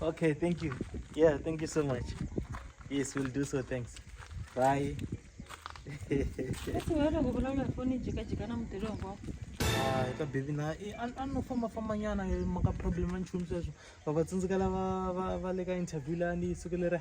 Okay, thank you. Yeah, thank you so much. Yes, we'll do so. Thanks. Bye. Ah, ka baby na eh, an- a no famba famba nyana eh, maka problem a nchumu sweswo va va tsundzuka lava va va le ka interview lani yi sukelera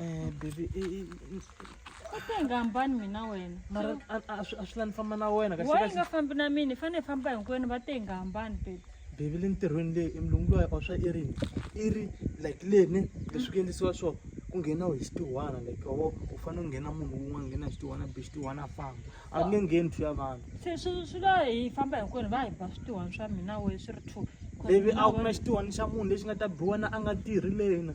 Eh, baby i- i- i- u te nga hambani mina wena mara a- a- a swi a swi la ni famba na wena kahle wa yi kahle nga fambi na mina hi fanele hi famba hinkwenu va te nga hambani baby bebi le ntirhweni leyi emlungu loyi a swa i ri i ri like leni leswi ku endlisiwa swo ku nghena hi xitihwana like wo u fanele u nghena munhu wun'wana nghena hi xitihwana be xitihwana a famba a ku nge ngheni two ya vanhu swi swi swi la hi famba hinkwenu va hi ba switihwana swa mina we swi ri two bebi a wu na xitihwana xa munhu lexi nga ta biwa na a nga tirhi lena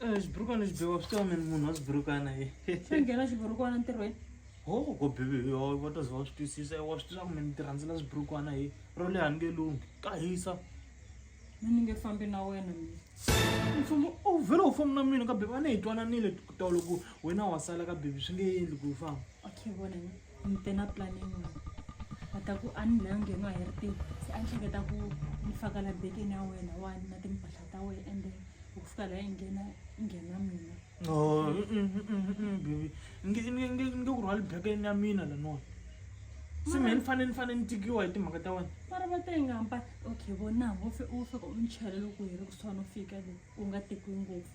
Eh, zviburuka nezvibewa swi tova mini munhu waziburukana ye sengena xiburukwana ntirhweni ho ko bibi yo va ta za va swi twisisa wa swi tiva ku mini ti rhandzela swiburukwana ye ro leha ni nge lunghi ka hisa a ni nge fambi na wena mina mfumo u vhele u famba na mina ka bibi a ni hi twananile tolo ku wena wa sala ka bibi swi nge endli ku u famba okay vona mina ni te na plan yin'wana va ta ku a ni la nge nga hi ri tiko se a ni hleketa ku ni faka la bekeni ya wena wani na timpahla ta wena and then ku fika la yi nghena yi nghena mina Oh, mm, mm, mm, mm, mm, baby nge nge nge nge ku rhwali bekeni ya mina laniwani se mehe ni fanele ni fanele ni tikiwa hi timhaka ta wena mara va te nga mpa okay vonango u fika u ni chela loko hi ri kusuhani u fika le u nga tekiwi ngopfu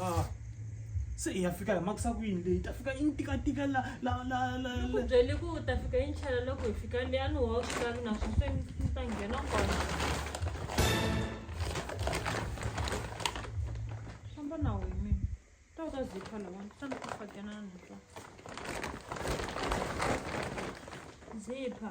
Ah. se i ya fika hi makisa ku yini leyi ta fika i ni tikatika la la la la ni ku la- byele ku u ta fika yi nchela loko hi fika le a ni wa u swi lavi naswona se ni ni ta nghena kona famba na wehe mina ta u ta zipha lawani ta ni ku fakenana twa zipha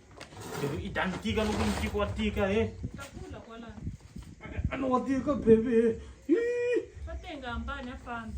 Baby, i ta ni tika loko ni tiko wa tika he Takula kwala. a ni wa tika baby he Hii. Batenga hambani afambi.